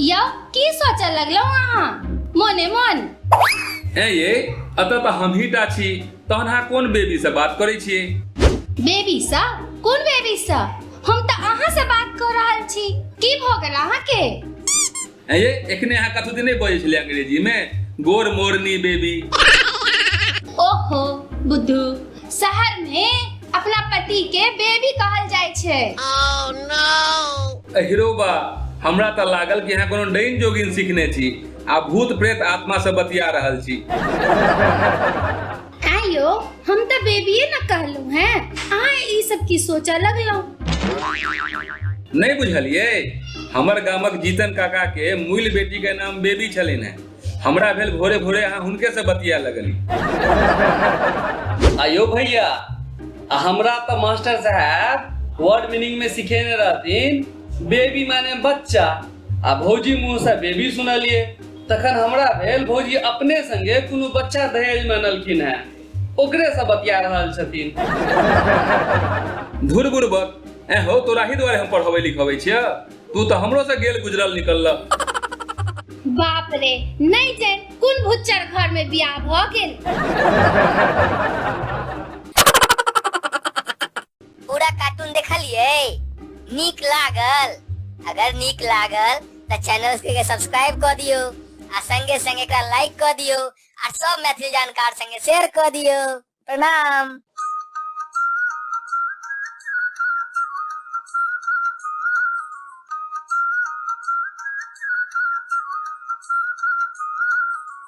यौ की सोचऽ लगलहुँ अहाँ मोने मोन ए ये अतः तऽ हमही टा छी तहन अहाँ कोन बेबी से बात करै छियै बेबी सा कोन बेबी सा हम तऽ अहाँ से बात कऽ रहल छी की भऽ गेल अहाँके हैं ये एकने यहाँ कथू दिन नहीं बोले छले अंग्रेजी में गोर मोरनी बेबी ओहो बुद्धू शहर में अपना पति के बेबी कहल जाय छे अहिरो बा हमरा त लागल कि यहाँ कोनो डैन जोगिन सीखने छी आ भूत प्रेत आत्मा से बतिया रहल छी ऐं यो हम तो बेबिए न कहलू हैं अहाँ ई सब की सोचा लगलहुँ नहीं बुझलिए हमर गामक जीतन काका के मूल बेटी के नाम बेबी छलिन है हमरा भेल भोरे भोरे अहाँ हुनके से बतिया लगली आयो भैया आ हमरा तो मास्टर साहब वर्ड मीनिंग में सिखेने रहथिन बेबी माने बच्चा आ भौजी मुंह से बेबी सुनलिए तखन हमरा भेल भौजी अपने संगे कोनो बच्चा दहेज में अनलखिन है ओकरे से बतिया रहल छथिन धुर बुरबक ए हो तोरा ही दुआरे हम पढ़बै लिखबै छियै तू तऽ हमरो से गेल गुजरल निकलल बाप रे नहीं जान कुन भुच्चर घर में बियाह भ गेल पूरा कार्टून देखलिए नीक लागल अगर नीक लागल तो चैनल के सब्सक्राइब कर दियो आ संगे संगे एकरा लाइक कर दियो आ सब मैथिली जानकार संगे शेयर कर दियो प्रणाम